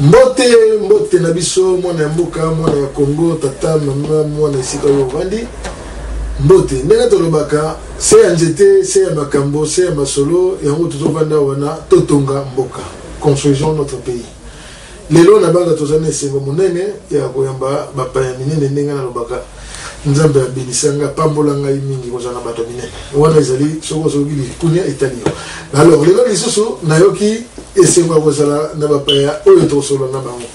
Mbote, mbote na biso, mwana ya mboka, mwana ya Congo, tata, mama, mwana esika oyo ovandi. Mbote, ndenge tolobaka, se ya nzete, se ya makambo, se ya masolo, yango tozovanda wana, totonga mboka, construisons notre pays. Lelo na banga tozali na esengo monene ya koyamba bapaya minene ndenge nalobaka nzambe abenisa ngai apambola ngai mingi kozala na bato ya minene wana ezali soki ozoki likunia etali yo alors lelo lisusu nayoki esengo ya kozala na bapaya oyo tokosolola na bango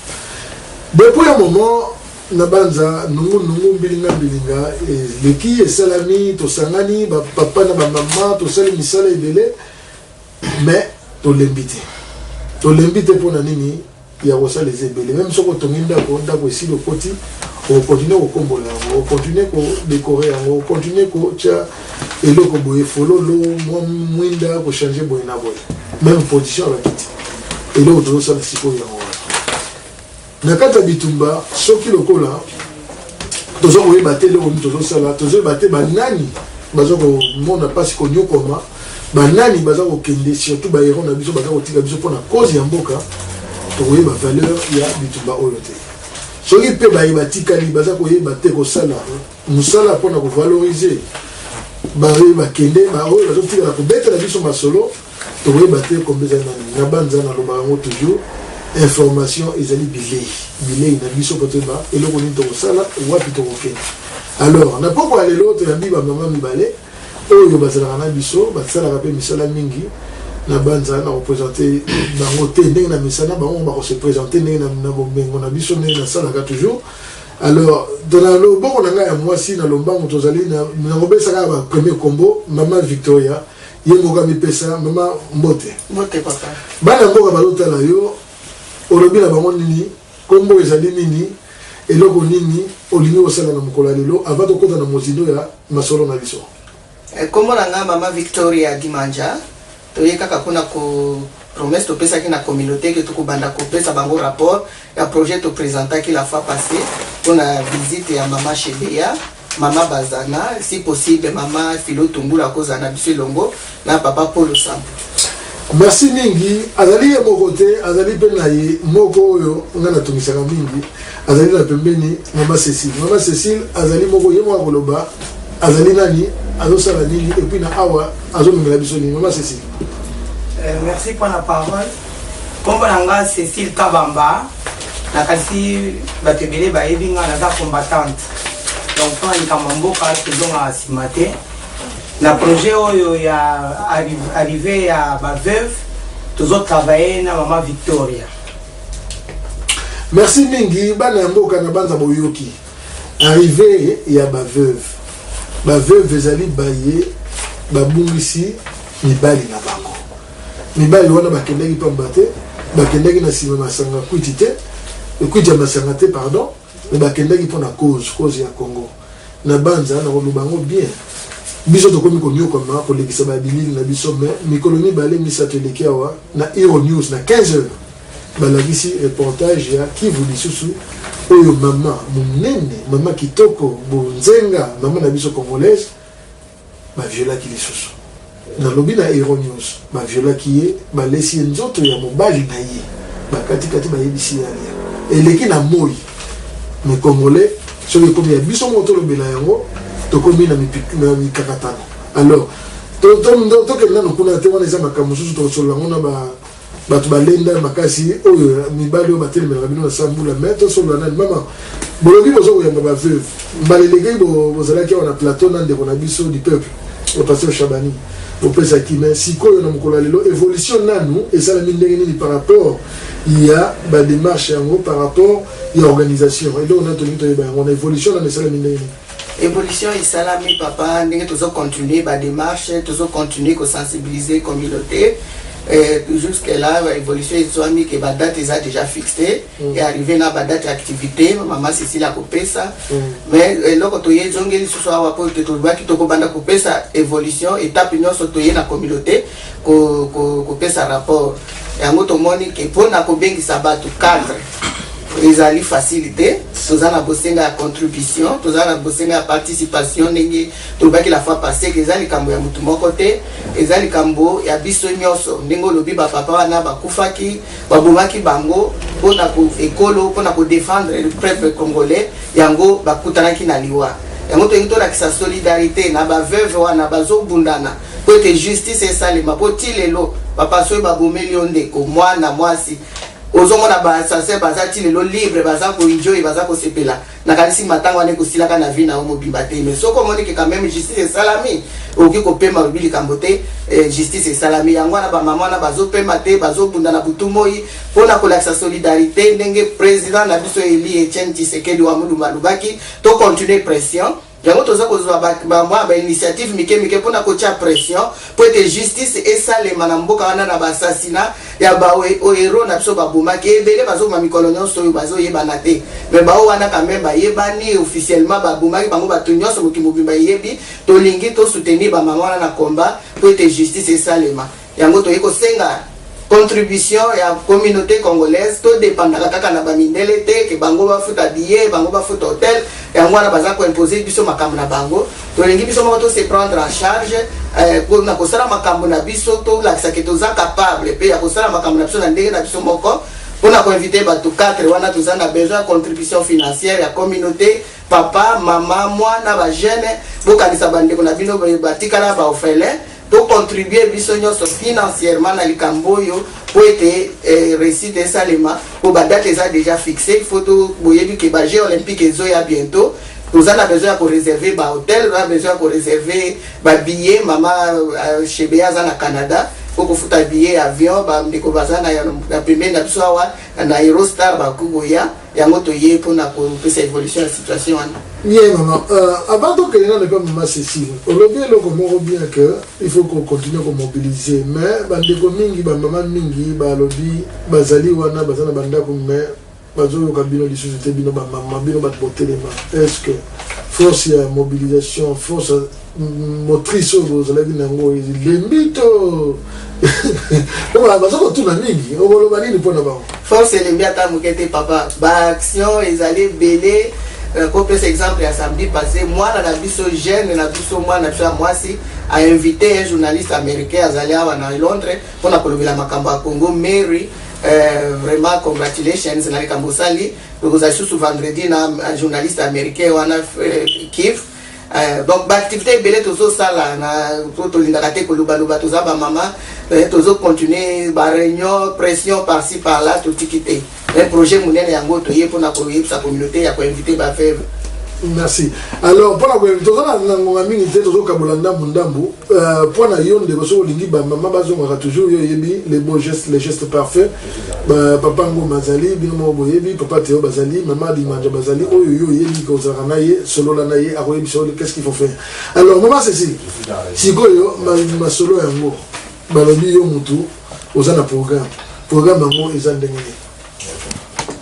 depuis ya moment na banza nungunungu mbilinga mbilinga eleki esalami tosangani bapapa na bamama tosali misala ebele mais tolembi te tolembi te mpo na nini ya kosala eza ebele meme soki otongi ndako ndako esili okoti okontinue kokombola yango okontinue kodekore yango okontinue kotya eloko boye fololo mwa mwinda kochange boye na boye meme position ya bakiti eloko tozosala sikoyo yango wana na kati ya bitumba soki lokola toza koyeba te eloko nini tozosala toza koyeba te banani baza komona mpasi konyokwama banani baza kokende surtout baero na biso baza kotika biso mpona cause ya mboka tokoyeba valeur ya bitumba oyo te soki mpe baye batikali baza koyeba te kosala mosala mpona kovalorize baye bakende baoyo bazotikala kobetela biso masolo Tokoyeba te kombe eza nani na banza na loba yango toujours information ezali bilei bilei na biso po toyeba eloko nini tokosala wapi tokokende alors na pokwa ya lelo toyambi bamama mibale oyo bazalaka na biso basalaka mpe misala mingi na banza na kopresente bango te ndenge na misala bango bakose presente ndenge na bomengo na biso ndenge nasalaka toujours alors na loboko na ngai ya mwasi na lombango tozali nakobesa kaka bapremier combo mama victoria Ye moko amipesa. Mama mbote. Mbote papa. Bana mboka bazotala yo, olobi na bango nini? Kombo ezali nini? Eloko nini olingi kosala na mokolo ya lelo avant tokota na mozindo ya masolo na biso? Eh, kombo na nga mama Victoria Dimanja. Toye kaka pona ko promesse topesaki na communauté que tokobanda kopesa bango rapport ya projet topresentaki la fois passée pona visite ya mama Shebeya. Maman Bazana, si possible maman Philo Tungulu akozala na biso elongo na papa Paul Osampu. Merci mingi. Azali ye moko te, azali mpe na ye moko oyo ngai natungisaka mingi, azali na pembeni mama Cecile. Mama Cecile azali moko ye moko akoloba azali nani, azosala nini, epuis na awa azomemela biso nini. Mama Cecile. Euh, merci mpo na parole. Nkombo na ngai Cecile Kabamba. na kasi bato ebele bayebi nga naza combattante donc mpo na likambo ya mboka tozongaka nsima te na projet oyo ya arrive ya baveuve tozotravaille na mama victoria merci mingi bana ya mboka na banza boyoki arrive ya baveuve baveuve ezali baye babungisi mibali na bango Mibali wana bakendaki pamba te, bakendaki na sima masanga kwiti te, kwiti ya masanga te pardon, me bakendaki mpo na cause, cause ya Congo. Na banza na koloba yango bien. Biso tokomi konyokwama kolekisa ba bilili na biso me mikolo mibale misato eleki awa na Hero News na 15 heures balakisi reportage ya Kivu lisusu oyo mama munene, mama kitoko, bonzenga, mama na biso congolaise ba violaki lisusu nalobi na eronius ba violaki ye balesi ye nzoto ya mobali na ye bakati kati bayebisi ye alia eleki na moyi mais congolais soki ekomi ya biso moko tolobela yango tokomi na mikakatano alors tokende nanu kuna te wana eza makambo mosusu tokosolola yango na ba Batu balenda makasi oyo mibali oyo batelemelaka bino na sambula mais tosolola nani mama bolobi boza koyamba ba veuve mbala elekei bozalaki awa na plateau na ndeko na biso du peuple le pasteur Chabani opesaki mais sikoyo na mokolo ya lelo evolution nanu esalami ndenge nini par rapport ya ba démarche yango par rapport ya organisation eloko nani tolingi toyeba yango na evolution nanu esalami ndenge nini Evolution esalami papa ndenge tozo continuer ba demarche tozo continuer ko sensibiliser communauté eh, jusque là ba evolution ezwami ke ba date eza déjà fixé mm. et arrivé na ba date activité mama Cécile akopesa mm. mais eh, eloko eh, toye ezongi lisusu awa po te tolobaki tokobanda kopesa evolution étape nyonso toye na communauté kopesa ko, ko rapport yango tomoni ke mpo na kobengisa bato cadre ezali facile te toza na bosenga ya contribution toza na bosenga ya participation ndenge tolobaki la fois passé eza likambo ya motu moko te eza likambo ya biso nyonso ndenge olobi bapapa wana bakufaki babomaki bango mpona ekolo mpona kodefendre le peuple congolais yango bakutanaki na liwa yango tolingi tolakisa solidarité na baveuve wana bazobundana mpo ete justice esalema mpo ti lelo bapasoi babomeli yo ndeko mwana mwasi Ozo mona ba assassin baza ti lelo libre baza ko enjoy baza ko sepela nakanisi matanga wana eko silaka na vie na yo mobimba te mais soki omoni ke quand même justice esalami okoki ko pema olobi likambo te eh, justice esalami yango wana ba maman wana bazo pema te bazo bunda na butu moi pona ko lakisa solidarite ndenge president na biso eli Etienne Tshisekedi wa mulumba alobaki to continuer pression Yango toza kozwa ba, ba mwa ba initiative mike mike mpo na kotia pression mpo ete justice esalema na mboka wana na basasina ya baohero na biso babomaki ebele bazoboma mikolo nyonso oyo bazoyebana te me bao wana kame bayebani officiellement babomaki bango bato nyonso moki mobimba eyebi tolingi tosoutenir bamama wana na combat mpo ete justice esalema Yango toye kosenga contribution ya communaute congolaise to dependaka kaka na bamindele te ke bango bafuta billet bango bafuta hotel yango wana baza koimpose biso makambo na bango tolingi biso moko to se prendre en charge eh, na kosala makambo na biso tolakisa ke toza capable mpe ya kosala makambo na biso na ndenge na biso moko mpona koinvite bato 4 wana toza na besoin ya contribution financière ya communauté papa mama mwana bajeune bokanisa bandeko na bino batikala baofelin To contribuer biso nionso financièrement na likambo oyo mpo ete eh, recite esalema mpo ba date eza dejà fixe il faut to boyebi ke ba jeux olympique ezoya bientôt toza na besoin ya koreserve ba hotel na besoin ya koreserve ba billet mama uh, shebe aza na canada mpo kofuta billet ya avion bandeko baza na, na pembeni na biso awa na eurostar bakoki koya yango toye pona kopesa evolution ya situation wana bien maman euh, avant tokende nano mpe mama cécile olobi eloko moko bien que il faut kocontinue komobiliser mais bandeko mingi bamama mingi balobi bazali wana baza na bandako mais bazoyoka bino lisusu te bino bamama bino bato botelema est ce que force ya mobilisation force motrice oyo bozalaki na yango elembi to baza kotuna mingi okoloba nini mpo na bango force elembi ata moke te papa baaction ezali ebele euh, kopesa exemple ya samedi passé mwana na biso jeune na biso mwana na biso ya mwasi ainvite un journaliste américain azali awa na londres mpo na kolobela makambo ya congo mary Euh, vraiment congratulations na likambo osali tokozala lisusu vendredi na journaliste américain wana euh, kif Eh, donc baactivité ebele tozosala na po tolingaka te kolobaloba toza bamama eh, tozocontinue bareunion pression parci par là totiki te un eh, projet monene yango toye mpona koyebisa communauté ya koinvite baveve merci alors mpona koyebisa toza na ngonga mingi te tozokabola ndambu ndambu Euh, mpo na yo ndeko soki olingi bamama bazongaka toujours yo oyebi les beaux gestes les gestes parfaits ba, papa ngoma azali bino moko boyebi papa teo bazali mama dimanja bazali oyo yo oyebi ke ozalaka na ye solola na ye akoyebisa yo qu'est ce qu'il faut faire alors mama cecile sikoyo masolo yango balobi yo mutu oza na programme programme yango eza ndenge nini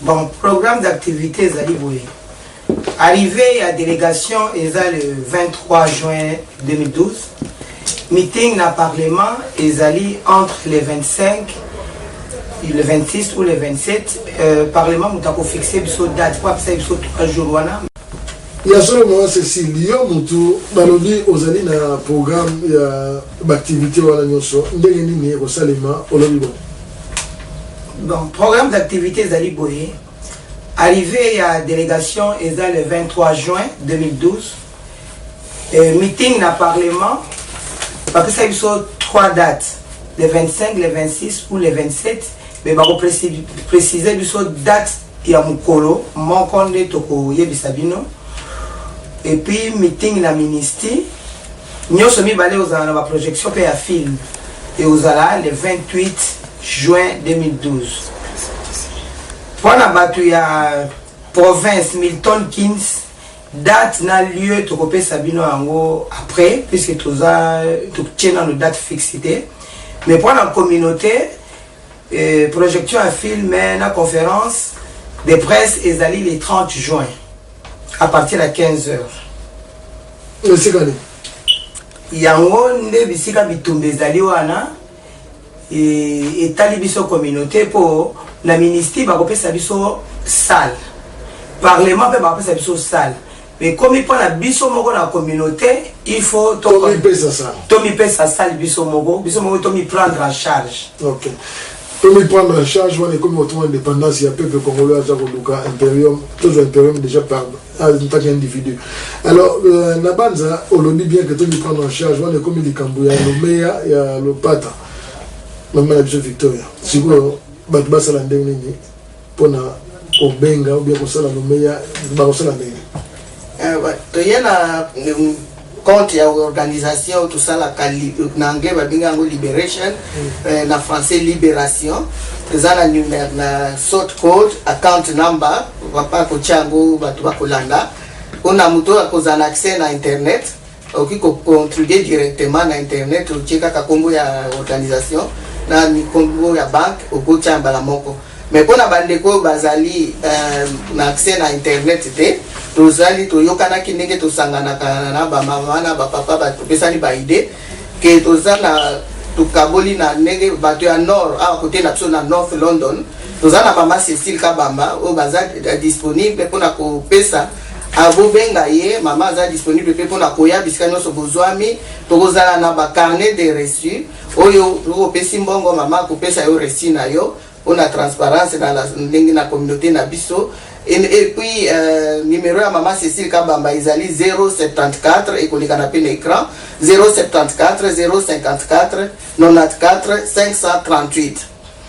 bon programme d'activité ezali boye Arrivee ya delegation eza le 23 juin 2012. Meeting na parlement ezali entre le 25 et le 26 ou le 27. Euh, parlement moto ako fixe biso date po apesa biso 3 jours wana. ya solo mama cecile yo motu balobi ozali na programme ya baaktivité wana nyonso ndenge nini ekosalema olobi bo Bon, programme d'activité ezali boye. Arrivee ya delegation eza le 23 juin 2012. Meeting na parlement bapesaki biso trois dates le 25, le 26 ou le 27 mais bako preciser biso date ya mokolo moko nde tokoyebisa bino. Et puis meeting na ministie. Nioso mibale ozala na ba projection pe ya film et ozala le 28 juin 2012. Pona batu ya province Milton Keynes date na lieu tokopesa bino yango après puisque toza totie nano date fixe te mais mpo na communauté Euh, projection ya film eh, na conférence de presse ezali le 30 juin à partir ya 15 heures esika nini yango nde bisika bitumba ezali wana e, etali biso communauté mpo na ministre bakopesa biso salle parlement mpe bakopesa biso salle Ekomi mpo na biso moko na communaute, il faut to Tomipesa sala. tomipesa sali biso moko, biso moko tomi prendre en charge. Ok. Tomi prendre en charge wana ekomi kotuma indépendance ya peuple congolais aza koluka imperium tozwa imperium déjà par en tant qu'individu alors euh, na banza olobi bien que tomi prendre en charge wana ekomi likambo ya lomeya ya lopata mama na biso victoria sikoyo bato basala ndenge nini pona kobenga ou bien kosala lomeya bakosala ndenge eh, toye na mm, compte ya organisation tosalaka na anglais babenga yango liberation mm. eh, na français libération eza na numero na sort code account number papa akotya yango bato bakolanda mpona moto akozala accès na internet Okoki ko contribuer directement na internet otie kaka kombo ya organisation na kombo ya banque okoki tia mbala moko mais pona ba ndeko oyo bazali euh, na accès na internet te tozali toyokanaki ndenge tosanganaka na ba mama na ba papa batopesani ba idée ke toza na tokaboli na ndenge bato ya nord awa kote na biso na north london toza na mama cecile kabamba oyo baza disponible mpona kopesa Ah, bobenga ye mama aza disponible mpe mpona koya bisika nyonso bozwami tokozala na bacarnet de reçu oyo opesi mbongo mama akopesa yo reçu na yo mpona transparence na ndenge na communauté na biso epuis euh, numero ya mama cécile kabamba ezali 074 ekolekana mpe na écran 074 054 94 538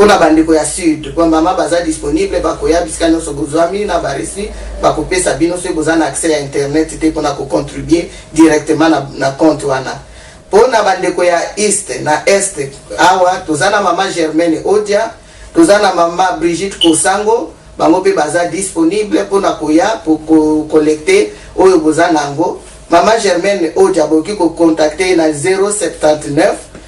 Pona ba ndeko ya sud ba maman baza disponible bakoya bisika nionso bozuami na ba reçu bakopesa bino soki boza na accès ya internet te pona ko contribue directement na na compte wana. Pona ba ndeko ya east na est awa toza na maman Germaine Odia toza na maman Brigitte Kosango bango pe baza disponible pona koya pour ko collecter oyo boza nango. Maman Germaine Odia bokoki ko contacter ye na 079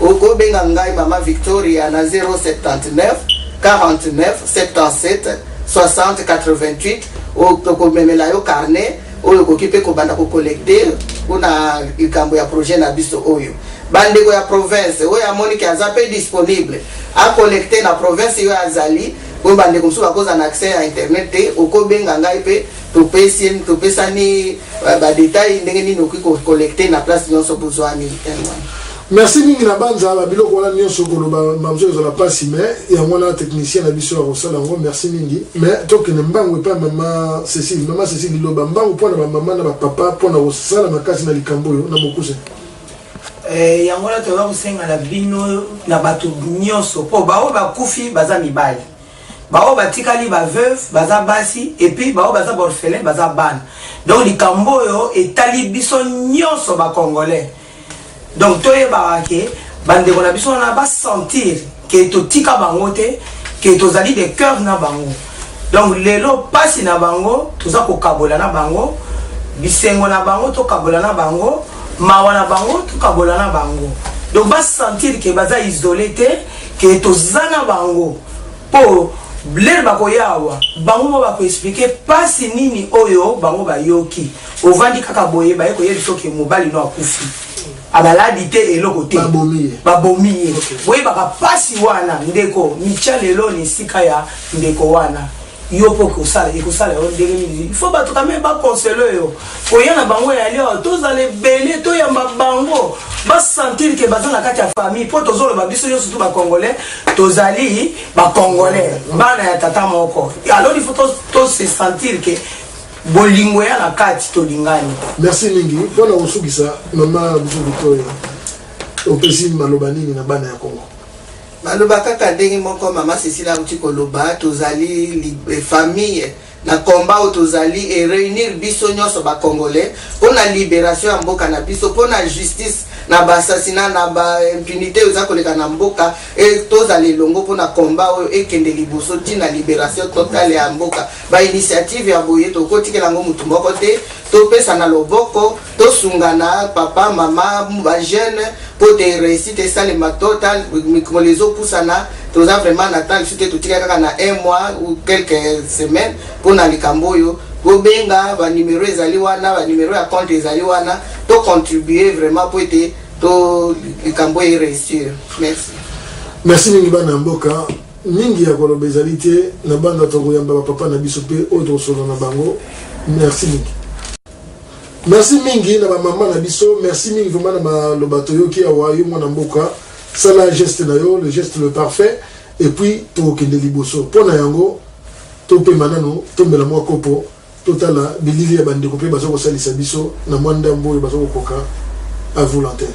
Oko benga ngai maman Victoria na 079 49 77 60 88 oyo tokomemela yo carnet oyo okoki mpe kobanda kocollecte mpona likambo ya projet na biso oyo bandeko ya province oyo amoni ke aza mpe disponible acollecte na province yo azali oyo bandeko mosusu bakozala na accès ya internet te okobenga ngai mpe Topesi ye topesani euh, ba detail ndenge nini okoki ko collecter na place nyonso bozwami terme wana. merci mingi na banza ba biloko wana nyonso koloba mamzo ezala mpasi me yango wana technicien na biso akosala yango merci mingi me tokende mbangu epai mama cecile mama cecile liloba mbangu mpo na bamama na bapapa mpo na kosala makasi na likambo oyo na bokuse Eh, yango wana toza kosenga na bino na bato nyonso mpo baoyo bakufi baza mibali ba oyo batikali ba veuve baza basi et puis ba oyo baza ba orphelins baza bana donc likambo oyo etali biso nionso ba congolais donc toyebaka ke bandeko na biso wana ba sentir ke totika bango te ke tozali de cœur na bango donc lelo pasi na bango toza kokabola na bango bisengo na bango tokabola na bango mawa na bango tokabola na bango donc basentir ke baza isole te que toza na bango po lelo bakoya awa bango mo bako expliquer pasi nini oyo bango bayoki ovandi kaka boye baye koyebi soki mobali no akufi abaladi te eloko te babomi ye boyebaka pasi wana ndeko micha lelo na esika ya ndeko wana yo mpo okosala ekosala yo ndenge nini il faut bato kame baconsele yo koya na bango ya lio tozala ebele toyamba bango basentir ke baza na kati ya famille mpo tozoloba biso nyonso tu bacongolais tozali bacongolais bana ya tata moko alors il faut tose sentir ke bolingo ya na kati tolingani merci mingi mpo na kosukisa mama biso victoria opesi maloba nini na bana ya kongo Maloba kaka ndenge moko maman Cecile awuti koloba tozali famille na combat oyo tozali e reunir biso nionso ba congolais pona liberation ya mboka na biso pona justice na ba assassinat na ba impunite oyo eza koleka na mboka e tozala elongo pona combat oyo ekende liboso ti na liberation totale ya mboka ba initiative ya boye tokotikela yango mutu moko te topesa na loboko Tosungana papa maman ba jeune po te reussite esalema total mikolo ezo pusana toza vraiment na temps sute totika kaka na un mois ou quelques semaines pona likambo oyo bobenga ba numero ezali wana ba numero ya compte ezali wana to contribuer vraiment po ete to likambo e reussir merci merci mingi bana mboka mingi ya koloba ezali te na banda tokoyamba bapapa na biso mpe oyo tokosolola na bango merci mingi Merci mingi na ba maman na biso, merci mingi vraiment na maloba toyoki awa yo mwana mboka sala geste na yo le geste le parfait et puis tokokende liboso mpo na yango topema nano tombela mwa kopo totala bilili ya bandeko mpe baza kosalisa biso na mwa ndambo oyo baza kokoka à volontaire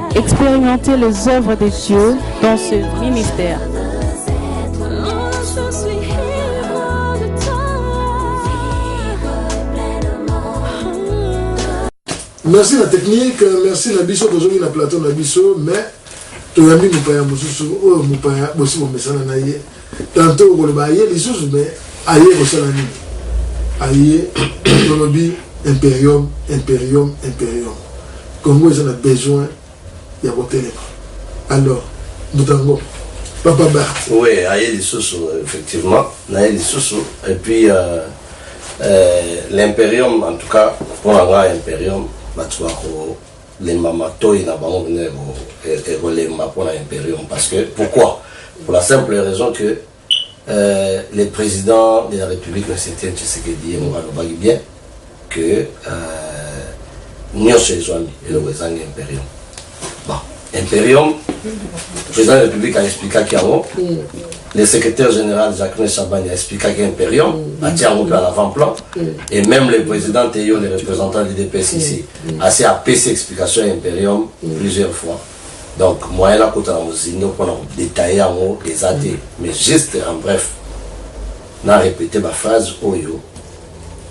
Expérimenter les œuvres de Dieu dans ce ministère. merci la technique merci na biso tozongi na plateau na biso mais toyambi mopaya mosusu oyo mopaya bosi bomesana na ye Tantot okoloba aye lisusu mais aye kosala nini? Aye tolobi imperium imperium imperium congo eza na besoin ya kotelema alors mbutango papa ba oui aye lisusu effectivement naye lisusu et puis euh, euh, l'imperium en tout cas mpo na ngai imperium bato bako Lemba matoyi na bango bino eko eko lemba pona imperium parce que pourquoi pour la simple raison que Euh, le président de la République, M. Etienne Tshisekedi, alobaki bien que euh, nyonso ezwami eloko ezangi imperium bon imperium président de la république aexplikaki yango le secrétaire général jacquemin chabani aexplikaki imperium atia yango mpe à l'avant plan et même le président teyo le représentant du dps ici asi apesi explication ya imperium plusieurs fois donc moyen nakota na mozindo mpo na kodetaille yango eza te mais juste en bref na repete baphrase oyo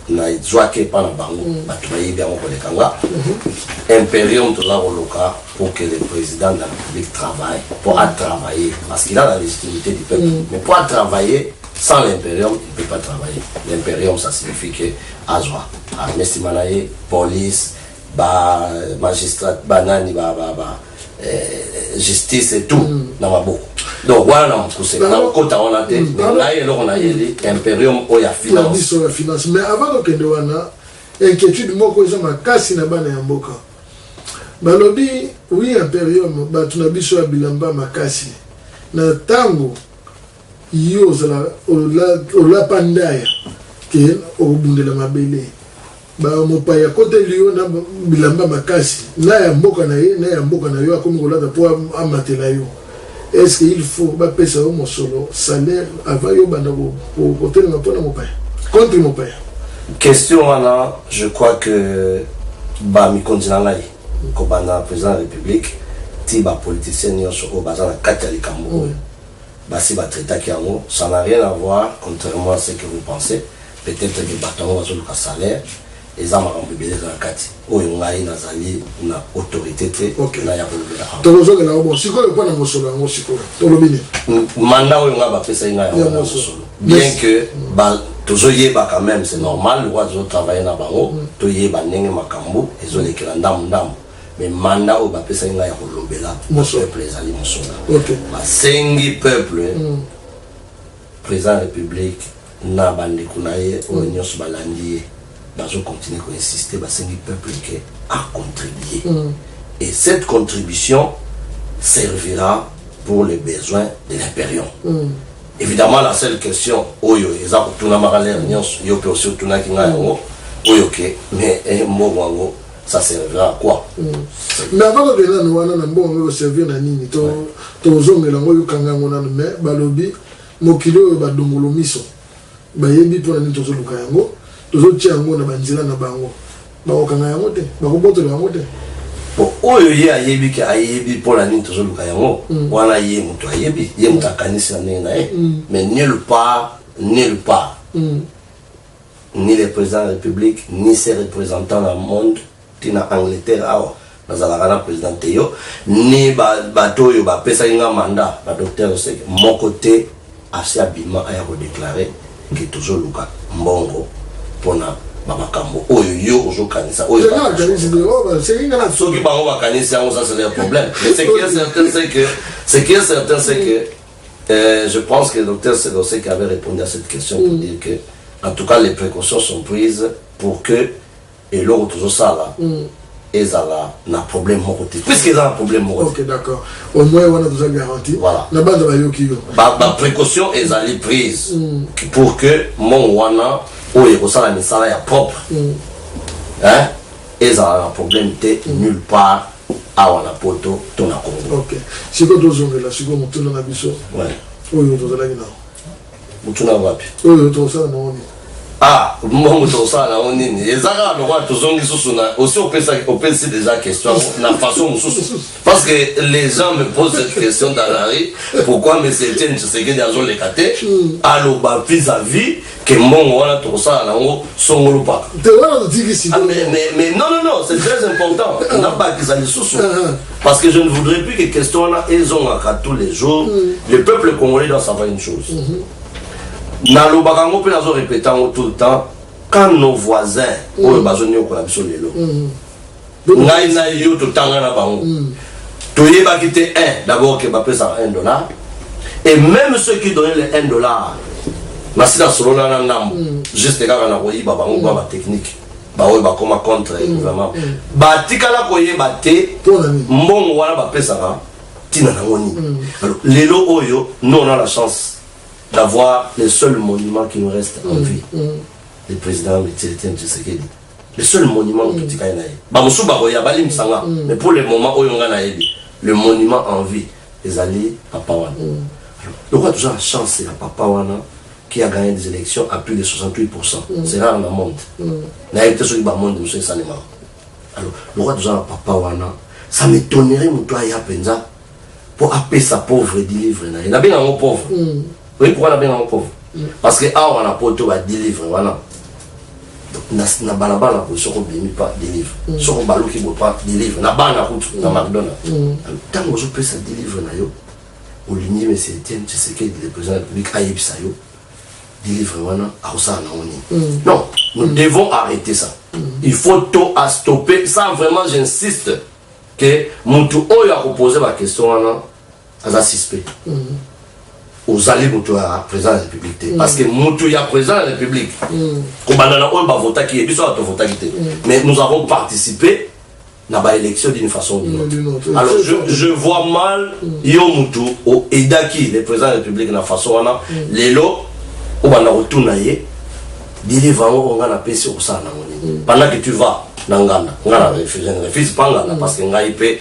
nazwaki epa na bango mm. bato bayebi yango koleka nga mm-hmm. imperium toza koluka pour que le président de la république travaille mpo atravaille parce qu'il a la légitimité du peuple mm. mais mpo atravaille Sans l'imperium il peut pas travailler l'imperium ça signifie que azwa arme sima na ye police ba magistrat banani ba, ba, ba, eh, justice et tout mm. na maboko donc wana na mokuse na kokota wana te mm. mais ngai eloko nayeli imperium oyo ya finance ya finance mais avant kokende wana inquiétude moko eza makasi na bana ya mboka balobi wi imperium bato na biso ya bilamba makasi na ntango Yo ozala olapa ndaya ke okobundela mabele ba mopaya akoteli yo na bilamba makasi na ya mboka na ye na ya mboka na yo akomi kolata mpo amatela yo est-ce que il faut bapesa yo mosolo salaire avant yo banda kotelema mpo na mopaya contre mopaya question wana je crois que bamikonzi na ngai kobanda président ya république ti bapoliticien nyonso oyo baza na kati ya likambo oyo mm. basi ba traitaki yango ça n'a rien à voir contrairement à ce que vous pensez peut etre que batu yango bazo luka salaire eza makambo ebele eza na kati oyo ngai nazali na autorite te okay. na ya kolobela awa tokozokela yango bon sikoyo mpo na mosolo yango sikoyo tolobi nini manda oyo ngai bapesaki ngai yango na mosolo bien que ba tozoyeba quand même c'est normal lokola tozotravaille na bango mm. toyeba ndenge makambo ezolekela ndambu ndambu Mais mandat oyo bapesaki ngai ya kolobela peuple ezali mosolo. Basengi peuple mm. président république na bandeko na ye oyo mm. nyonso balandi ye bazokontinue koinsiste basengi peuple ke acontribue mm. et cette contribution servira pour les besoins de l'impérion mm. évidemment la seule question oyo eza kotunamaka lere nyonso yo mpe osi otunaki ngai yango oyo ke mais eh, mbongo yango ça servira à quoi mm. mais avant tokende nano wana na mbongo yango ekoservir na nini tozongela yango oyokanga yango nano mais balobi mokili oyo badongolo miso bayebi mpo na nini tozoluka yango tozotia yango na banzela na bango bakokanga yango te bakobotola yango te po oyo ye ayebi ke ayebi mpo na nini tozoluka yango mm. wana ye moto ayebi ye moto akanisi na ndenge na ye mm. mais nul part nul part mm. Ni le president ya republique ni ses representants na monde ti na Angleterre awa nazalaka na president te yo ni ba bato oyo ba pesaki nga mandat ba docteur oseke moko te asi abima aya ko declare que tozo luka mbongo pona ba makambo oyo yo ozo kanisa oyo ba oh, soki bango ba kanisi yango ça c'est leur problème mais ce qui est certain c'est que ce qui est certain c'est que Euh, je pense que Dr Selosek avait répondu à cette question pour mm. dire que, en tout cas, les précautions sont prises pour que et l'eau toujours ça là. Mm. ezala na problème moko te puiske eza na problème moko ok d'accord au moins wana toza garanti voilà na banda bayoki yo baprécaution ezali prise mm. pour que mongo wana oyo ekosala misala ya propre mm. hein? ezala na problème te mm. nulle part awa na poto to na congo ok sikoyo tozongela sikoyo motuna na biso oyo tozalaki nao motuna wapi oyo tokosala nango nini ah mbongo tokosala nango nini eza kaka lokola tozongi susu na osi opesi déjà question na façon mosusu parce que les gens me posent cette question dans la rue pourquoi monsieur etienne tshisekedi azoleka te hmm. aloba vis à vis que mbongo wana tokosala nango songolo paka te wana totiki sida ah, mais, mais, mais non non non c'est très important ah. nabakisa lisusu ah, parce que je ne voudrais plus que question wana ezongaka tous les jours mm. le peuple congolais doit savoir une chose mm -hmm. nalobaka yango mpe nazo répéta yango tout le temps quand nos voisins mm. oyo bazoniokola biso lelo mm. Ngai na yo totanga na bango. Mm. Toyebaki te un d'abord que bapesaka un dollar et même ceux qui donnaient le un dollar nasi nasolola na ndambo mm. juste kaka na koyiba bango mm. baba technique baoyo bakoma contre mm. gouvernement mm. batikala koyeba te mbongo wana bapesaka ntina nango nini mm. alors lelo oyo nous on a la chance d'avoir le seul monument qui nous reste en mm. vie mm. le président Etienne Tshisekedi le seul monument mm. totikali na ye bamosusu bakoya balimbisa nga mm. mais pour le moment oyo nga nayebi le monument en vie ezali papa wana mm. lokola toza na chance ya papa wana qui a gagné des élections à plus de 68 mm. c'est rare na monde mm. nayebi te soki bamonde mosusu esalemaka alors lokola toza na papa wana ça m'étonnerait moto aya mpenza mpo apesa pauvre dilivre na ye nabenga yango pauvre mm. Oyebi pourquoi nabenga yango pauvre Parce que awa na poto ba delivre wana na balabala boye soko obimi pa delivre mm. soko obaluki boye pa delivre na bana kutu na mm. macdonald mm. ntango ozopesa delivre na yo olingi mese etienne tshisekedi le président de république ayebisa yo delivre wana akosala nango nini non nous devons arrêter ça il faut to astopper ça vraiment j'insiste ke motu oyo akopose baquestion wana aza suspect ozali moto ya président ya république te mm. parce que moto ya président ya république mm. kobanda na oyo bavotaki ye biso awa tovotaki te mm. mais nous avons participé na baélection d'une façon d'une autre alors je, je vois mal yo motu oedaki le président ya république na façon wana lelo obanda kotuna ye delive yango oyo ngai napesi okosala nango nini pendant que tu vas na ngana ngai na refuse refuse pa ngana parce que ngai mpe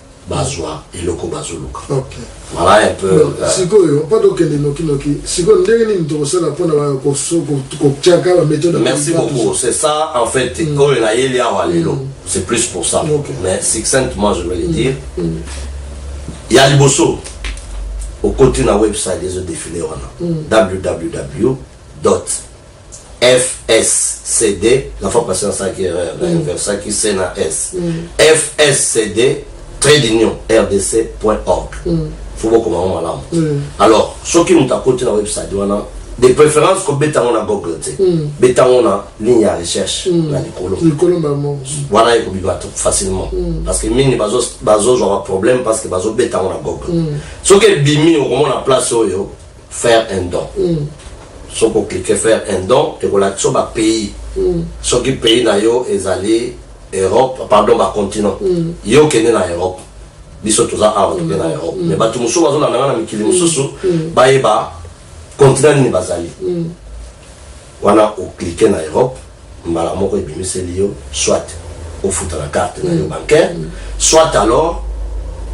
bazwa eloko bazoluka voilà un peu euh, sikoyo mpo tokende nokinoki sikoyo ndenge nini tokosala mpona kotyaka baméthode merci beaucoup c'est ça en fait mm. oyo nayeli awa lelo mm. c'est plus pour ça okay. mais succinctement je vais le mm. dire mm. ya liboso okoti na website ezo défile wana mm. www Dot. FSCD, la fois passée nasalaki erreur, na inversaki C na S. FSCD, trait d'union, rdc.org. Faut bokoma yango malamu. Alors, soki moto akoti na website wana, de préférence kobeta yango na Google te. Beta yango na ligne ya recherche na likolo. Likolo mbala moko. Wana ekobima to- facilement. Parce que mingi bazo- bazozwa ba problème parce que bazobeta yango na Google. Soki ebimi okomona place oyo faire un don mm. soki oklike faire un don ekolakisa ba pays mm. soki pays na yo ezali europe pardon bacontinent mm. ye okende na europe biso toza awa toke na mm. europe mm. mais bato mosusu bazolanda nga na mikili mm. mosusu mm. bayeba continent nini bazali mm. Wana o cliquer na Europe, mbala moko ebimiseli yo soit ofuta na carte na yo bancaire, soit alors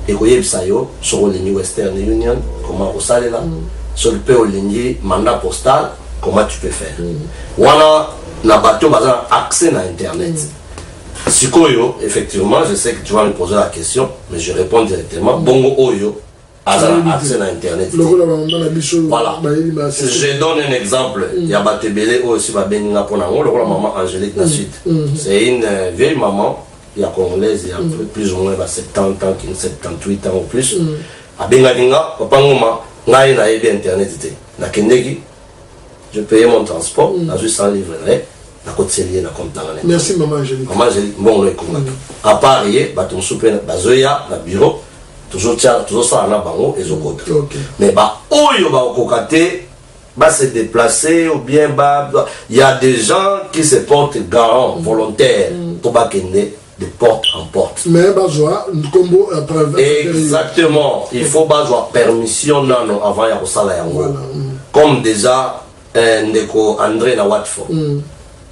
ekoyebisa yo soki olingi Western Union comment okosalela, soki pe olingi mandat postal comment tu peux faire. Wana na batu oyo baza na accès na internet. Sikoyo effectivement, je sais que tu vas me poser la question, mais je reponds directement, bongo oyo, aza na accès na internet te voilà je donne un exemple mm. ya bato ebele oyo si babengi nga mpo na yango lokola mama angélique na mm. suite mm. c'est une euh, vieille maman ya congolaise ya plus ou moins ba 70 ans kini 78 ans ou plus abengaki nga papa ngoma ngai nayebi internet te nakendeki je paye mon transport mm. nazwi 100 livre na ye nakotiseli ye na compte nanga na merci mama angelique mama angelique mbongo na ekoma mm. à part ye bato mosusu mpe bazoya na bureau tozosala na bango ezokota mais baoyo bakokoka te va se déplacer ou bien va... Il y a des gens qui se portent garants, mm. volontaires, mm. pour Bakende, de porte en porte. Mais bazwa nkombo ya preuve. Exactement. Il faut bazwa permission nano avant ya kosala yango. Voilà. Mm. Comme déjà eh, ndeko André na Watford. Mm.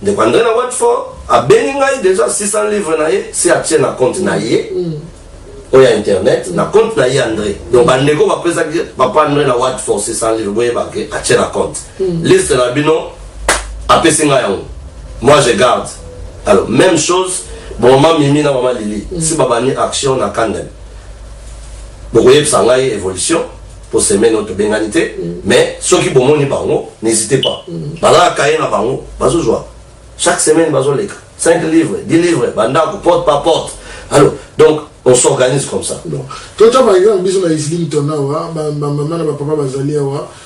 Ndeko André na Watford abengi ngai déjà 600 livres na ye si atie na compte na ye. Mm. oyo ya internet na compte na ye andre donc bandeko bapesaki papa andre na watford 600 livre boyebake atie na compte Liste na bino apesi nga yango. Moi je garde. Alors même chose bon maman Mimi na maman Lili mm. si babandi action na Kandem. Bokoyebisa ngai evolution po semaine oyo tobengani te mm. mais soki bomoni bango n'hésitez pas. Mm. Bazala kaye na bango bazozwa. Chaque semaine bazoleka 5 livres, 10 livres, bandako porte par porte. Alors donc on s'organise comme ça. Bon. Tota par exemple biso na Islington awa ba maman na ba papa bazali awa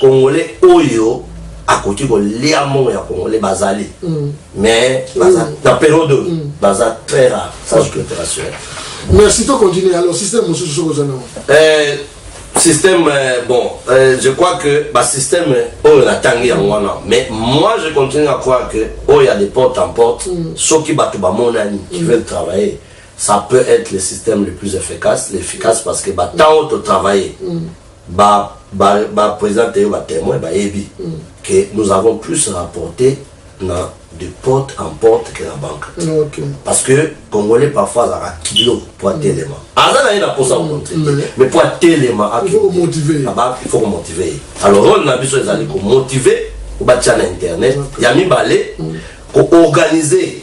Congolais oyo akoki kolia mbongo ya congolais bazali mm. mais baza mm. na periode oyo mm. baza très rare sans mm. culturationnel merci to continuer alors système mosusu soki oza nango euh, système euh, bon euh, je crois que basystème oyo natangi yango wana mais moi je continue à croire que oyo ya de porte en porte mm. soki bato bamonani qui mm. veulent travailler ça peut être le système le plus efficace l'efficace parce que batango totravaille mm. Ba ba ba presente yo ba temoins bayebi que nous avons plus rapporte na de porte en porte que na banque. Ok. Parce que congolais parfois azalaka kilo po atelema. Aza na ye na posa komontre te. Mais- Mais po atelema Il faut komotive ye. aba il faut komotive ye. Alors role na biso ezali komotive obatia na internet. Ya mibale koorganize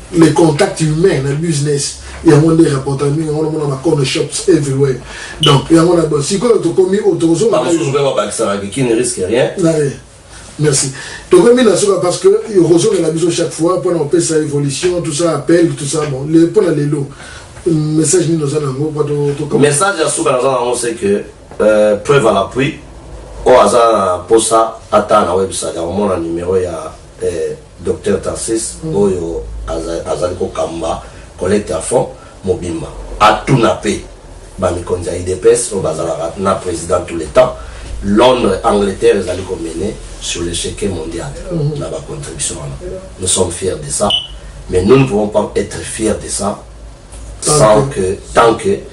le contact humain na business yango nde rapporta mingi yango namona ba corner shops everywhere donc yango na bon sikoyo tokomi oyo tokozonga bamosusu mpe babakisaka kiki ne risque rien merci tokomi na suka parce que okozongela biso chaque fois mpo na kopesa évolution tout ça appel tout ça bon mpo na lelo message nini oza nango message ya suka naza nango c'est que euh, preuve à l'appui oyo aza na mposa ata na website akomona numero ya Eh Docteur Tarcisse oyo azali ko kamba collecte ya fonds mobimba atuna pe ba mikonzi ya udps oyo bazalaka na president tout le temps Londres Angleterre ezali ko mener sur le cheque mondial na ba contribution wana nous sommes fiers de ça mais nous ne pouvons pas etre fiers de ça sans que tant que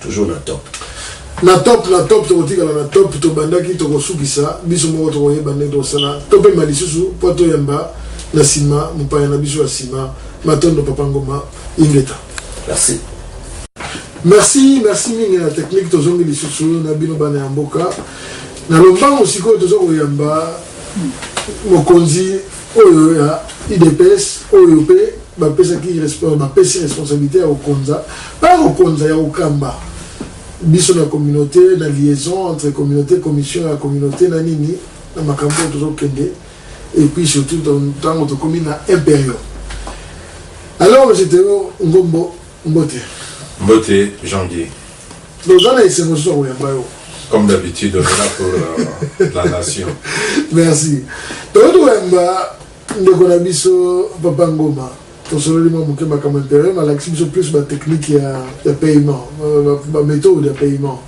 Toujours na top. Na top na top tokotikala na top tobandaki tokosukisa biso moko tokoyeba ndenge tokosala topema lisusu mpo toyamba na nsima mopaya na biso ya nsima matondo papa ngoma ingeta merci merci merci mingi na technique tozongi lisusu na bino bana ya mboka na lombango sikoyo toza koyamba mokonzi Oyo ya udps oyo pe bapesaki bapesi responsabilite ya kokonza pa kokonza ya kokamba biso na communauté na liaison entre communauté commission ya communauté na nini na makambo oyo tozokende et puis surtout ntango tokomi na imperium alors jete ngombo Mbote. Mbote Jean Guy. Donc oza na esengo lisusu ya koyamba yo. Comme d'habitude, on est là pour euh, la nation. Merci. Donc toyamba ndeko na biso Papa Ngoma. tosololi mwa moke makambo imperium alakisi biso plus batechnique ya, ya paiement baméthode ya paiement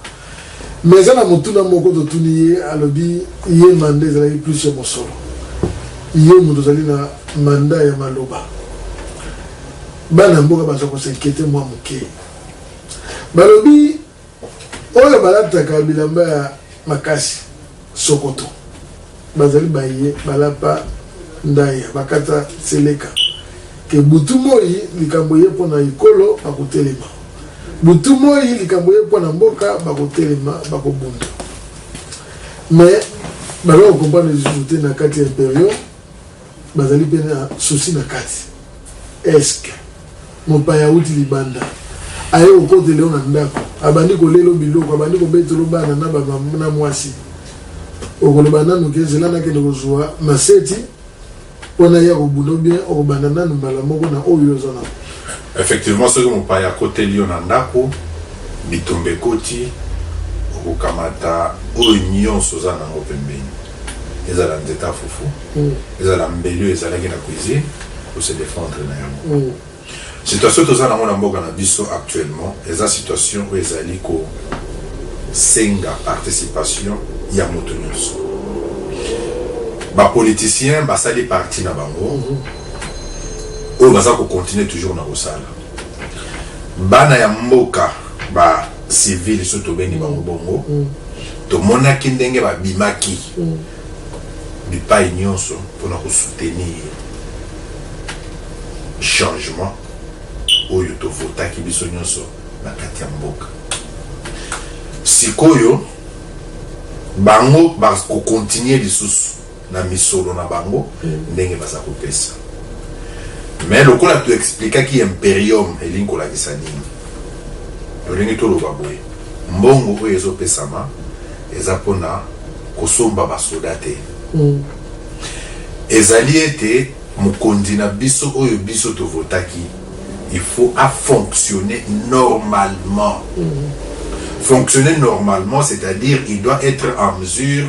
Mais eza na motuna moko totuni ye alobi ye mandat ezalaki plus ya mosolo yo mutu ozali na mandat ya maloba bana ya mboka baza ko s'inquiete mwa muke balobi oyo balataka bilamba ya makasi sokoto Bazali baye balapa ndayi ya bakata seleka ke butu moyi likambo eye mpo na ekolo bakotelema, butu moyi likambo eye mpo na mboka bakotelema bakobunda mais baza ko comprendre lisusu te na kati ya imperiaux Bazali mpe na susi na kati eske mopaya auti libanda aye kokotela yo na ndako abandi kolelo biloko abandi kobetelo bana na bamama na mwasi okoloba nanu ke zela nakende kozwa maseti mpo na ye akobunda bien okobanda nanu mbala moko na oyo oza na effectivement soki mopaya akoteli yo na ndako bitumba ekoti okokamata oyo nyonso oza nango pembeni ezala nzete ya fufu mm. ezala mbeli oyo ezalaki na cuisine ose defendre na yango mm. situation toza nango na mboka na biso actuellement eza situation oyo ezali kosenga participation ya moto nyonso bapoliticien basali parti na bango mm-hmm. oyo baza kocontinue toujours na kosala Bana ya mboka ba civil so tobengi bango mm. bongo mm. tomonaki ndenge babimaki mm. bipai nyonso mpona kosoutenir changement oyo tovotaki biso nyonso na kati ya mboka sikoyo bango bakokontinue lisusu na misolo na bango ndenge baza kopesa mais lokola to explikaki imperium elingi kolakisa nini tolingi toloba boye mbongo oyo ezopesama eza mpona kosomba basoda te mm. ezali ete mokonzi na biso oyo biso tovotaki il faut afonctionner normalement mm. fonctionner normalement c'est-à-dire il doit être en mesure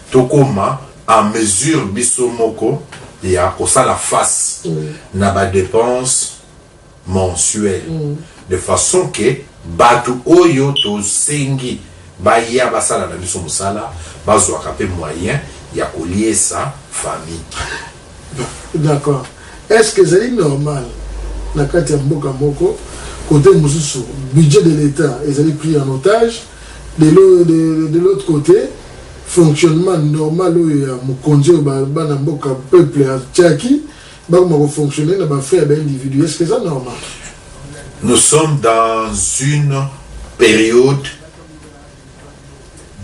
Tokoma en mesure biso moko ya kosala face na ba depenses mensuelles de façon que batu oyo tosengi baya basala na biso mosala bazwaka pe moyen ya koliesa famille. D'accord. Est-ce que c'est normal na kati ya mboka moko côté mosusu budget de l'État ezali pris en otage de, de, de, de l'autre côté fonctionnement normal oyo ya mokonzi oyo bana mboka peuple atiaki bakoma kofonctionne na bafrai ya baindividu est ce que eza normal nous sommes dans une période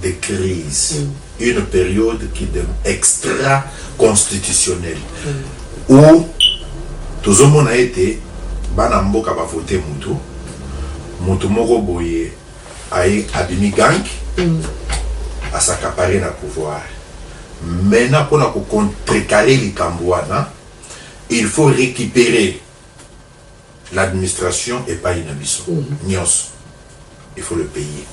de crise une periode qui de extra constitutionnelle ou tozomona ete bana mboka ba vote mutu mutu moko boye aye abimi gang asakapare na pouvoir mena mpona kocontrekale likambo wana il faut recuperer na administration epayi na biso nionso il faut le payer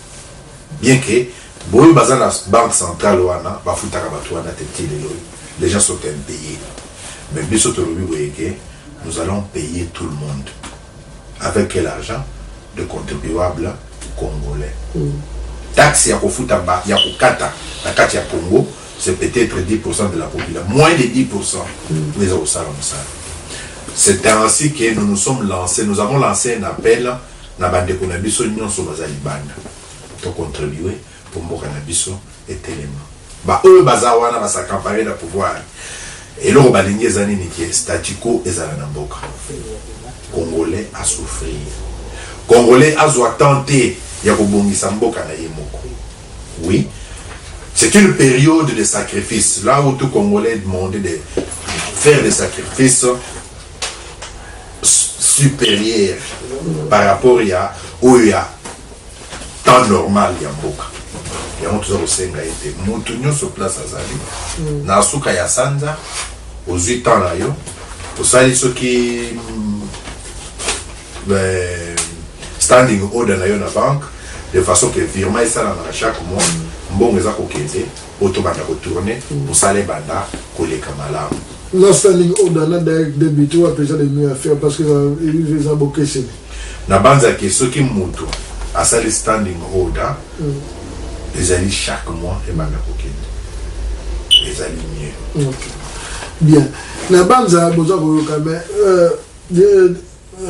bien que boye baza na banque centrale wana bafutaka batu wana te ti lelo oyo les gens sont impayes mais biso tolobi boye ke nous allons payer tout le monde avec quel argent de contribuable congolais taxe ya kofuta ba ya kokata na kati ya Congo c'est peut-etre 10 pourcent de la population moins de 10 pourcent oyo eza kosala mosala c'est ainsi que nous nous sommes lancés nous avons lancé un appel na bandeko na biso nyonso baza libanda tocontribue mpo mboka na biso etelema baoyo baza wana basacampare na pouvoir eloko balingi eza nini ke statico ezala na mboka congolais asouffrir congolais azwa temps te ya kobongisa mboka na ye moko Oui c'est une periode de sacrifice là où tout congolais demande de faire des sacrifices supérieurs par rapport ya oyo ya temps normal ya mboka yango toza kosenga ye te motu nyonso place azali mm. na suka ya sanza ozwi temps na yo osali soki euh, standing order na yo na banque de façon que virement esalama na chaque mois mbongo eza kokende oyo tobanda kotourne mosala ebanda koleka malamu na standing order na direct debit wapi eza lemi ya faire parce que eza bokeseni nabanzaki soki moto asali standing order mm. ezali chaque mois ebanda kokende ezali mieux bien nabanza boza koyoka mais euh,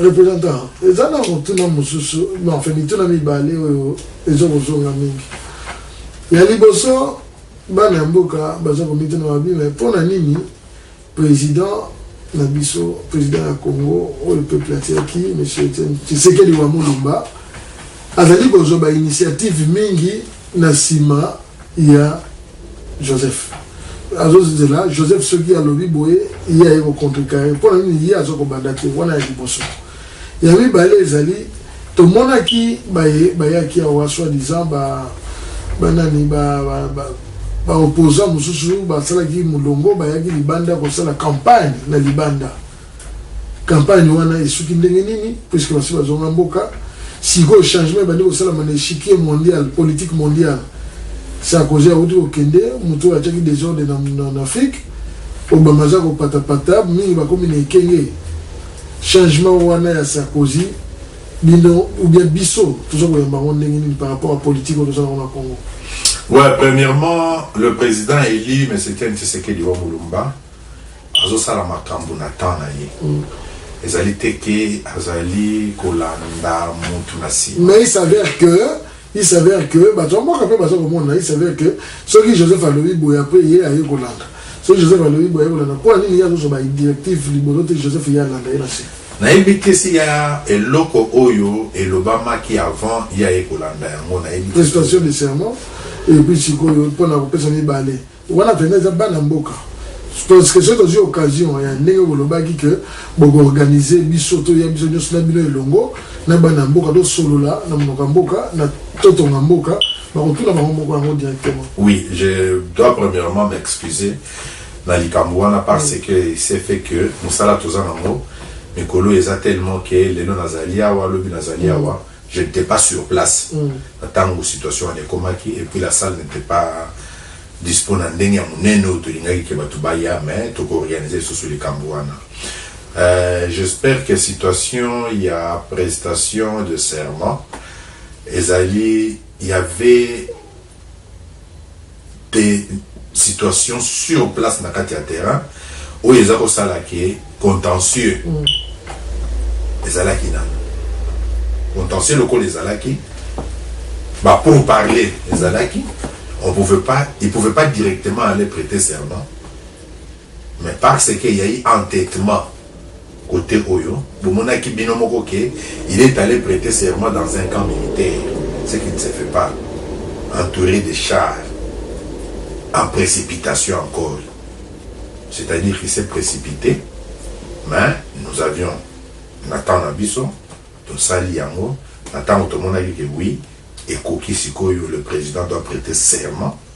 Representant, eza na motuna mosusu, enfin mituna mibale oyo ezo kozonga mingi. Ya liboso, bana ya mboka baza komituna babi, mais mpo na nini president na biso, president ya Congo oyo peuple atiaki, monsieur Etienne Tshisekedi wa Mulumba, azali kozwa ba initiatives mingi na sima ya Joseph azozela Joseph soki alobi boye ye aye kocontrecarre mpo na nini ye aza kobanda te wana ya liboso ya mibale ezali tomonaki baye bayaki awa soit disant ba banani ba, ba, ba baopposant mosusu basalaki molongo bayaki libanda kosala campagne na libanda Campagne wana esuki ndenge nini puisque basi bazonga mboka? Sikoyo changement ebandi kosalama na echiquier mondial, politique mondiale. Sarkozy awuti kokende, moto oyo atiaki desordre na, na, na Afrique. Obama aza kopatapata, mingi bakomi na ekenge. Changement wana ya Sarkozy, bino ou bien biso toza koyamba yango ndenge nini par rapport à politique oyo toza nango na Congo? Ouais, premièrement, le président élu, M. Ken Tshisekedi wa Mulumba, Azosala makambu na temps na ye. Ezali te ke azali kolanda mutu na sima. Mais il s'avère que, il s'avère que batu ya mboka pe baza komona, il s'avère que soki Joseph alobi boye apres ye aye kolanda. Soki Joseph alobi boye aye kolanda. Pona nini ye azozwa ba directives liboso te Joseph ye alanda ye na sima? Nayebi te s'il ya eloko oyo elobamaki avant ye aye kolanda yango nayebi te. Prestation de serment et puis sikoyo pona kopesa mibale. Wana vraiment eza bana mboka. Tosque soki tozwi occasion ya ndenge bolobaki ke boko organise biso toya biso nyonso na bino elongo na bana mboka tosolola na monoko ya mboka na totonga mboka bakotuna bango moko yango directement. Oui, je dois premièrement m'excuser na likambo wana parce mm. que c'est fait que mosala toza nango mikolo eza tellement que lelo nazali awa lobi nazali mm. awa Je n'etais pas sur place na tango situation wana ekomaki et puis la salle n'etait pas dispo na ndenge ya munene oyo tolingaki que batu baya mais toko organiser lisusu likambu wana. J'espère que situation ya prestation de serment ezali y'avait pe situation sur place na kati ya terrain oyo eza ko sala ke contentieux ezalaki nanu contentieux lokola ezalaki ba pour parler ezalaki on pouvait pas il pouvait pas directement aller preter serment mais par ce que ya i entetement cote oyo bomonaki bino moko que il est alle preter serment dans un camp militaire ce qui ne se fait pas entoure de chars en precipitation encore c'est à dire qu'il s'est precipite mais nous avions na temps na biso tosali yango na ntango tomonaki que oui ekoki sikoyo le président doit preter serment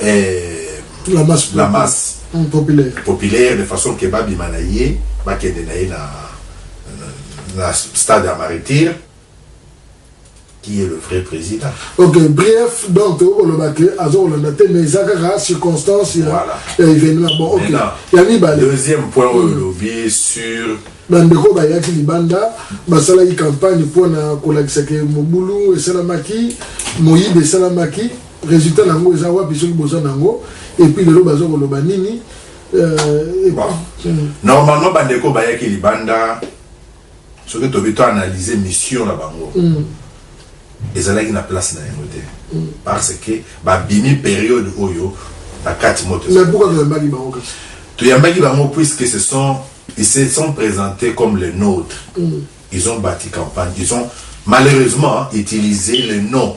eh, la masse, la masse mm, populaire. populaire de façon que babima na ye bakende na ye na, na, na stade ya martyr qui est le vrai président ok bref donc tokoloba te azokolanda te mais eza kaka circonstance ya Voilà. ya événement bon ok Maintenant, ya mibale deuxième point oyo olobi sur bandeko bayaki libanda basalaki campagne mpo na kolakisa ke mobulu esalamaki moyibi esalamaki Resultat na ngo eza wapi soki boza na ngo et puis lelo bazo koloba nini euh, et bon. Hmm. Normalement bandeko bayaki libanda soki tobi to analyser mission na bango mm. ezalaki na place na yango te mm. parce que babimi période oyo na kati moto toyambaki bango puisque ce sont ils se sont présentés comme les nôtres mm. ils ont bâti campagne ils ont malheureusement utilisé le nom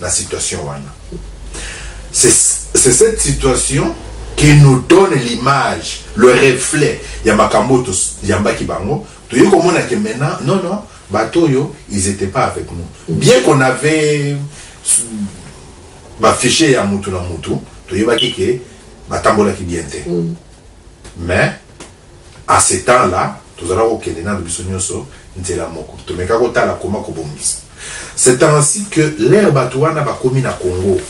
na situation wana c'est cette situation qui nous donne l'image le reflet ya makambo oyo toyambaki bango toye komona ke maintenant non non bato oyo ils étaient pas avec nous bien qu'on avait bafiche ya mutu na mutu toyebaki ke batambolaki bien te mm. mais A ce temps là, tozalaki kokende nanu biso nionso nzela moko, tomekaki kotala comment kobongisa. C'est ainsi que l'heure batu wana bakomi na Congo,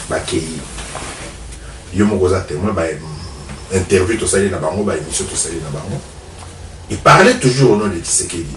bakeyi, yo moko oza temoin, ba interviews tosali na bango, ba emissions tosali na bango, ils parlaient toujours au nom de Tshisekedi.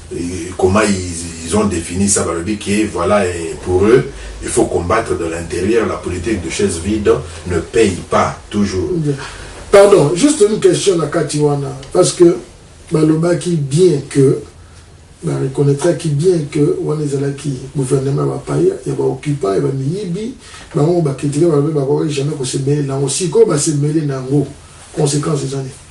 comment ils, ils ont défini ça balobi que voilà et pour eux il faut combattre de l'intérieur la politique de chaise vide ne paye pas toujours pardon juste une question na kati wana parce que balobaki bien que na reconnaîtraki bien que wana ezalaki gouvernement ya bapaya ya baoccupant ya bamiyibi bango bakritike balobi bakoki jamais kosemele nango sikoyo basemele na yango conséquence eza nini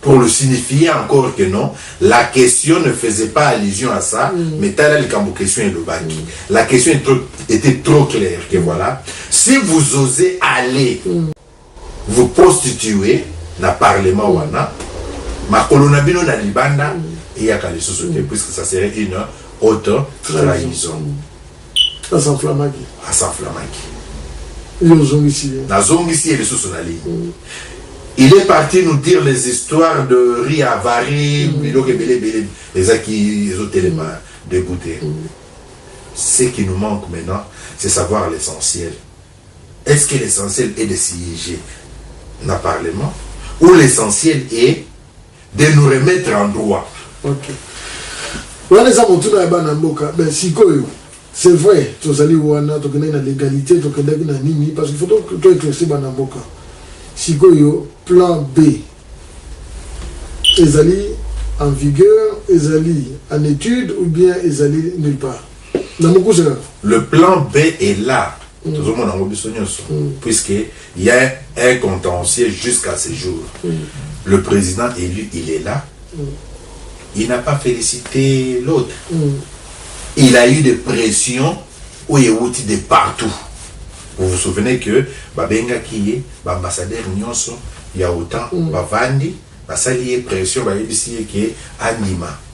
pour le signifier encore que non la question ne faisait pas allusion à ça mm. mais tala likambo question elobaki mm. la question est trop, était trop claire que voilà si vous osez aller mm. vous prostituer na parlement mm. wana makolo na bino na libanda mm. eyaka lisusu te mm. puisque ça serait une autre trahison mm. a s'enflammaki a s'enflammaki yo ozongisi ye nazongisi ye lisusu na ligne mm. il est parti nous dire les histoires de riz avari mm. biloko ebele ebele ezaki ezotelema dégoûté mm. ce qui nous manque maintenant c'est savoir l'essentiel Est ce que l'essentiel est de sieger na parlement ou l'essentiel est de nous remettre en droit? Ok. Wana eza motuna ya bana mboka. Ben sikoyo c'est vrai tozali wana tokendaki na l'égalité tokendaki na nini parce qu'il faut to éclaircir bana mboka. Sikoyo plan B ezali en vigueur, ezali en étude ou bien ezali nulle part? na mokuse kaka le plan b est là mm. tozomona yango biso nyonso mm. puisque y a un contentieux jusqu'à ce jour mm. le président élu il est là mm. il n'a pas félicité l'autre mm. il a eu des pressions oyo ewuti de partout vous vous souvenez que babengaki ye baambassadeur nyonso ya otan mm. bavandi basali ye pression bayebisi ye ke andima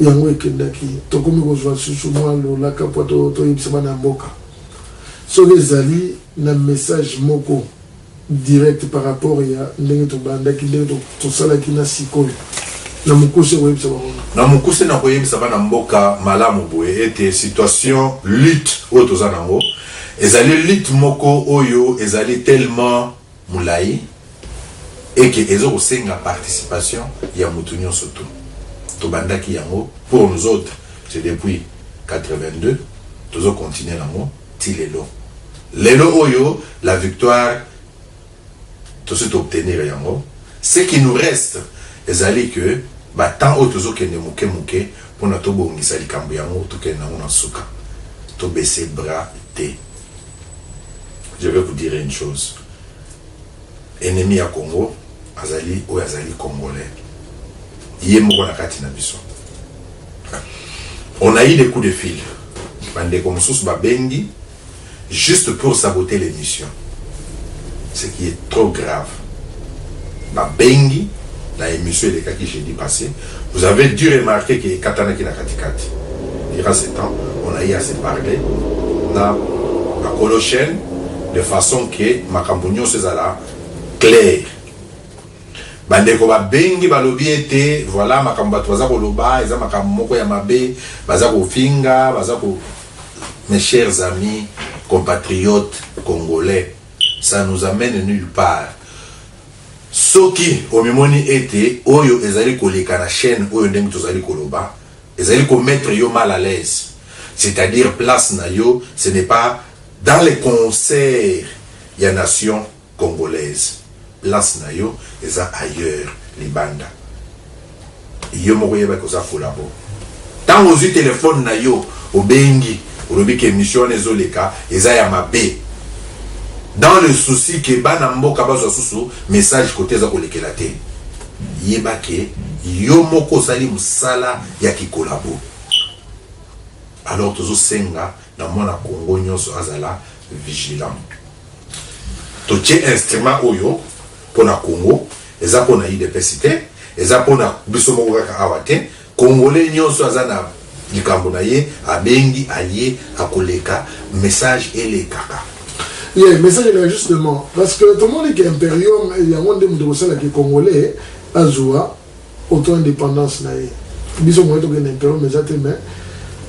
Yango ekendaki, tokomi kozua lisusu mwa lolaka mpo toyebisa bana ya mboka soki ezali na message moko direct par rapport ya ndenge tobandaki, ndenge tosalaki na sik'oyo. Na mokuse, okoyebisa bango nini? Na mokuse, nakoyebisa bana mboka malamu boye ete situation, lutte oyo toza na yango ezali lutte moko oyo ezali tellement. mulayi et que ezo ko senga participation ya mutu nionso tout. To bandaki yango pour nous autres c'est depuis 82 tozo continuer nango ti lelo. Lelo oyo la victoire tosi to obtenir yango ce qui nous reste ezali que ba temps oyo tozo kende muke muke pona to bongisa likambo yango to kende nango na suka. To baisser bras te. Je vais vous dire une chose. Ennemi ya Congo azali oyo azali congolais. Ye moko na kati na biso. On a eu des coups de fil. Bandeko mosusu babengi juste pour saboter l'émission. Ce qui est trop grave. babengi na emission elekaki jeudi passe, vous avez du remarquer que ekatanaki na kati kati. Durant ce temps, on a eu à se parler na bakolo chaine de façon que makambo nyonso ezala clair. bandeko babengi balobi ete voilà makambo bato baza koloba eza makambo moko ya mabe baza kofinga baza ko mes chers amis compatriotes congolais Ça nous amène nulle part. Soki omimoni ete oyo ezali koleka na chaine oyo ndenge tozali koloba ezali ko mettre yo mal à l'aise, c'est-à-dire place na yo ce n'est pas dans les concerts ya nation congolaise, place na yo eza ailleurs libanda. Yo moko yeba que oza collabo tango ozui telephone na yo obengi olobi que emission wana ezo leka eza ya mabe dans le souci que bana mboka bazua susu message cote eza kolekela te yeba que yo moko osali musala ya ki collabo alors tozo senga na mwana kongo nionso azala vigilant totie instrument oyo pona kongo. Eza pona udps te eza pona biso moko kaka awa te congolais nioso aza na likambo na ye abengi alie akoleka message elekaka. Yeah message eleka justement parce que tomoni ke imperium yango nde moto ekosala ke congolais azua auto independance na ye biso moye tokende imperium eza te mais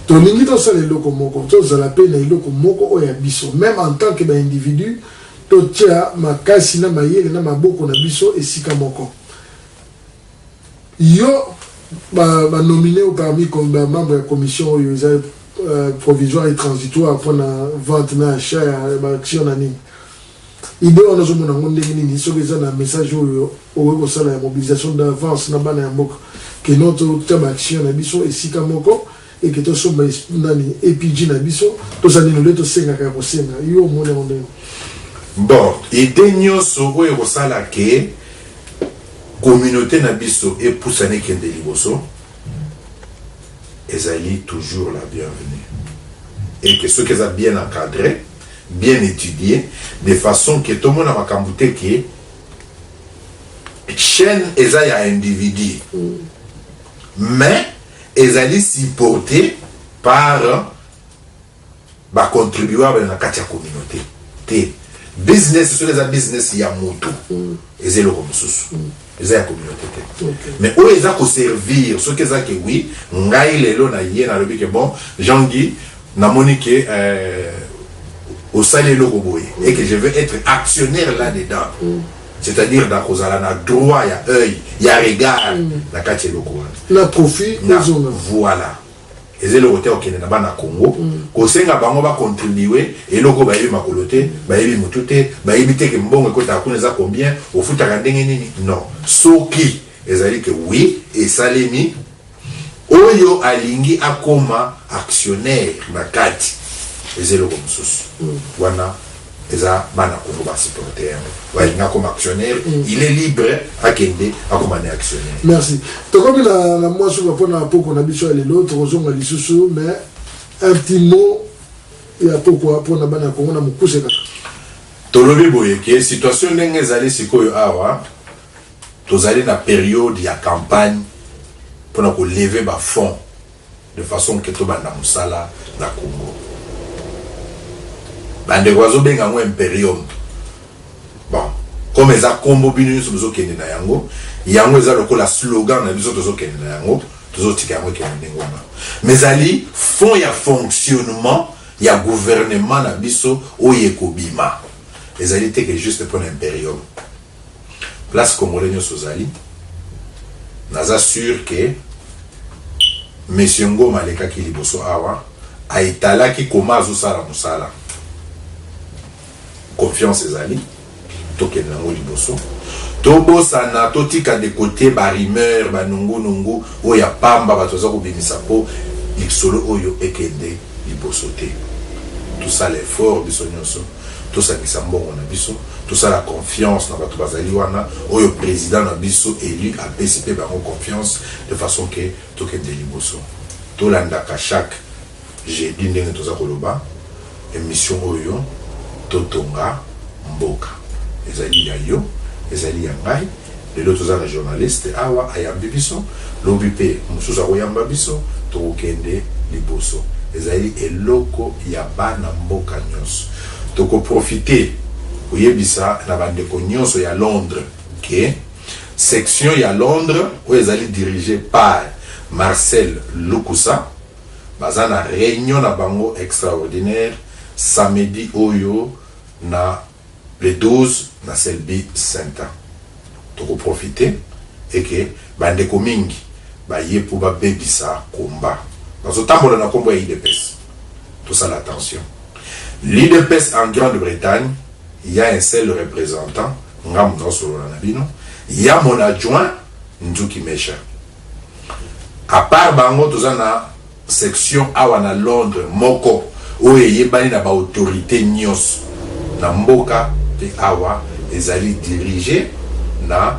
tolingi tosala eloko moko tozala pe na eloko moko oyo ya biso meme en tant que ba individu Totya makasi na mayele na maboko na biso esika moko. Yo, ba, ba nomine yo parmi comme ba membre ya commission oyo eza euh, provisoire et transitoire mpo na vente na achat ya ba action na nini. Idee wana ozomona yango ndenge nini? Soki eza na message oyo okoki kosala ya mobilisation d'avance na bana ya mboka, kino totya ba action na biso esika moko. et que tosomba esprit nani APG na biso toza nini olie tosengaka ya kosenga yo omoni yango ndenge Bon, idee nionso oyo ekosala que communaute na biso epusana ekende liboso ezali toujours la bienvenue et que soki eza bien encadre, bien etudie de façon que tomona makambo te que chaine eza ya individu mais Ezali supporte par ba contribuables na kati ya communaute te. Business soki eza business ya mutu eza eloko mosusu eza ya communaute te mais oyo eza ko servir soki eza ke oui ngai lelo na ye nalobi ke bon Jean Guy namoni ke euh, osali eloko boye et que je veux être actionnaire là dedans c'est-à-dire na kozala na droit ya oeil ya regard mm. na kati ya eloko wana na profit na voilà eza eloko te okende na bana congo mm. kosenga bango bacontribue eloko bayebi makolo te bayebi motu te bayebi te ke mbongo ekotaka kuna eza combien ofutaka ndenge nini non soki ezali ke oui esalemi Oyo alingi akoma actionnaire na kati eza eloko mususu wana eza bana Congo ba supporter yango balingi akoma actionnaire il est libre akende akoma ne actionnaire. Merci. Tokomi na na mwa suka mpo na pokwa na biso ya lelo, tokozonga lisusu mais un petit mot ya pokwa mpo na bana ya Congo na mokuse kaka. Tolobi boye ke situation ndenge ezali sikoyo awa, Tozali na periode ya campagne pona ko lever ba fonds de façon que tobanda musala na Congo. Ba ndeko bazo benga yango imperium. Bon, comme eza kombo bino nionso bozo kende na yango, yango eza lokola slogan na biso tozo kende na yango, tozo tika yango ekende ndenge wana. Mais ezali fonds ya fonctionnement ya gouvernement na biso oyo ekobima. Ezali te que juste pona imperium. place congolais nionso ozali naza sur que monsieur ngoma alekaki liboso awa aetalaki koma azosala mosala confiance ezali tokende nango liboso tobosana totika de kote barimeur banungunungu oyo ya pamba bato baza kobimisa mpo lisolo oyo ekende liboso te tosala effort biso nyonso Tosangisa mbongo na biso, tosala confiance na batu bazali wana, oyo president na biso elu apesi pe bango confiance de façon que tokende liboso. Tolandaka chaque jeudi ndenge toza koloba emission oyo, totonga mboka. Ezali ya yo, ezali ya ngai. Lelo toza na journaliste awa ayambi biso lobi pe mususu akoyamba biso tokokende liboso ezali eloko ya bana mboka nionso toko profiter koyebisa na ba ndeko nionso ya Londres ke section ya Londres oyo ezali dirige par Marcel Lukusa baza na reunion na bango extraordinaire samedi oyo na Le 12 na Selby Center toko profiter et que ba ndeko mingi baye po ba bebisa combat bazo tambola na kombo ya udps tosala attention l'udps en grande Bretagne ya un seul representant ngamu nazo solola na bino ya mon adjoint Nzuki Mesha à part bango toza na section awa na Londres moko oyo eyebani na ba autorites nionso na mboka mpe awa ezali diriger na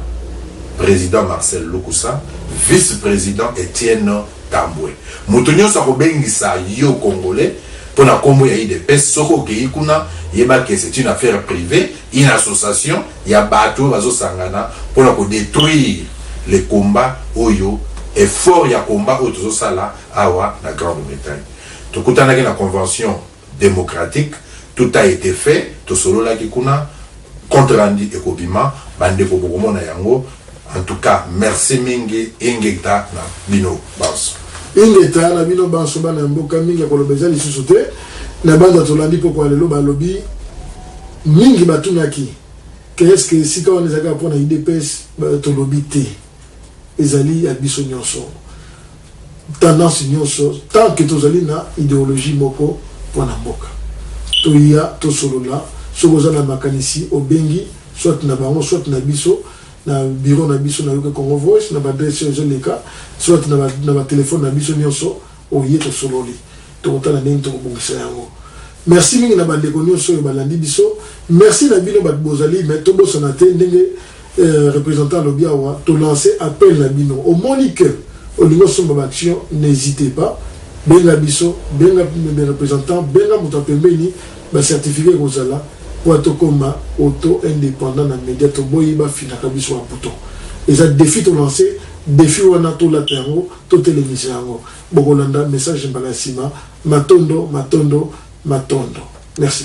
President Marcel Lukusa, Vice-President Etienne Tambwe. Moto nionso akobengisa yo Congolais mpo na kombo ya udps, soki okeyi kuna, yeba que c'est une affaire privee. Une association ya batu oyo bazo sangana pona ko detruire le combat oyo, effort ya combat oyo tozo sala awa na Grande Bretagne. Tokutanaki na convention democratique, tout a ete fait, tosololaki kuna, compte rendu ekobima, ba ndeko bokomona yango. En tout cas merci mingi ingeta na bino banso. Ingeta na bino banso bana ya mboka mingi ya koloba eza lisusu te na banda tolandi pokwa lelo balobi mingi batunaki ke eske esika wana ezalaka mpo na idps tolobi te ezali ya biso nyonso. tendance nionso tant que tozali na ideologie moko pona mboka toya tosolola soki oza na makanisi obengi soit na bango soit na biso na bureau na biso na yoke congo voice na ba adresse ezo leka soit na ba, na ba telephone na biso nionso oye tosololi tokotala ndenge tokobongisa yango merci mingi na bandeko nionso oyo balandi biso merci na bino bato bozali mais tobosana te ndenge Representant alobi awa to lance appel na bino omoni que olingi osomba ba action n'hesite pas benga biso benga representant benga moto ya pembeni ba certificat ekozala po tokoma auto independant na media toboyi ba finaka biso ba bouton eza defi to lance defi wana tolata yango totelemisa yango bokolanda message mbala ya sima matondo matondo matondo merci.